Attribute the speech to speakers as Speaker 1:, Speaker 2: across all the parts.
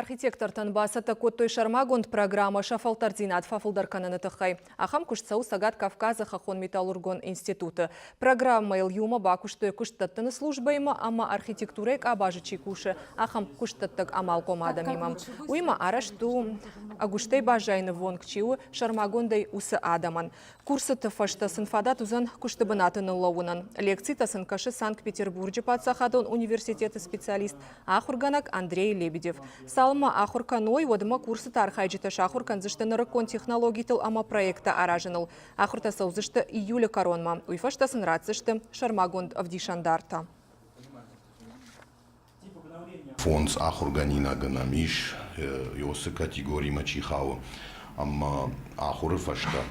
Speaker 1: Архитектортӕн бацӕттӕ кодтой сӕрмагонд программӕ сӕ фӕлтӕрддзинад фӕфылдӕр кӕныны тыххӕй. Ахӕм куыст цӕуы Цӕгат Кавказы хӕххон-металлургон институты. Программӕйыл иумӕ бакуыстой куыстдӕттыны службӕимӕ ӕмӕ архитектурӕйы къабазы чи кусы, ахӕм куыстдӕттӕг амалхъом адӕмимӕ. Уыимӕ арӕзт у, ӕгуыстӕй баззайыны вонг чи у, сӕрмагондӕй уыцы адӕмӕн. Курсыты фӕстӕ сын фадат уыдзӕн куысты бынаты ныллӕууынӕн. Лекцитӕ сын кӕсы Санкт-Петербурджы паддзахадон университеты специалист, ахуыргӕнӕг Андрей Лебедев. Цалынмӕ ахуыр кӕной, уӕдмӕ курсыты архайджытӕ сахуыр кӕндзысты нырыккон технологитыл ӕмӕ проекттӕ аразыныл. Ахуыртӕ цӕудзысты июлы кӕронмӕ, уый фӕстӕ сын ратдзысты сӕрмагонд ӕвдисӕндартӕ.
Speaker 2: Фондз ахуыргӕнинаг нӕм ис, Иосы категоримӕ чи хауы, ӕмӕ ахуыры фӕстӕ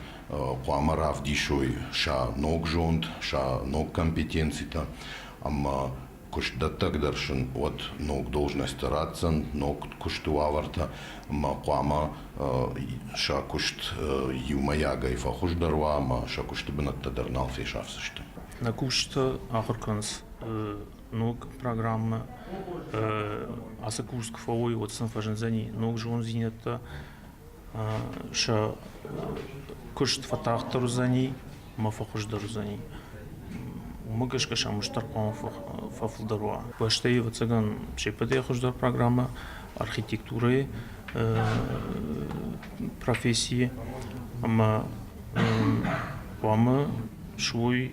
Speaker 2: хъуамӕ равдисой сӕ ног зонд, сӕ ног компетенцитӕ ӕмӕ куыстдӕттӕг дӕр сын уӕд ног должностӕ ратдзӕн, ног куысты уавӕртӕ ӕмӕ хъуамӕ сӕ куыст иумӕйагӕй фӕхуыздӕр уа ӕмӕ сӕ куысты бынӕттӕ дӕр нал фесафдзысты. Нӕ кусджытӕ
Speaker 3: ахуыр кӕнынц ног программӕ ацы курс куы фӕуой, уӕд сын фӕзындзӕни ног зонддзинӕдтӕ, сӕ куыст фӕтагъддӕр уыдзӕни ӕмӕ фӕхуыздӕр уыдзӕни. Уымӕ гӕсгӕ сӕм стыр хъуамӕ фӕфылдӕр уа. Бӕстӕйы, ӕвӕццӕгӕн, се ппӕтӕй хуыздӕр программӕ архитектурӕйы професси ӕмӕ хъуамӕ суой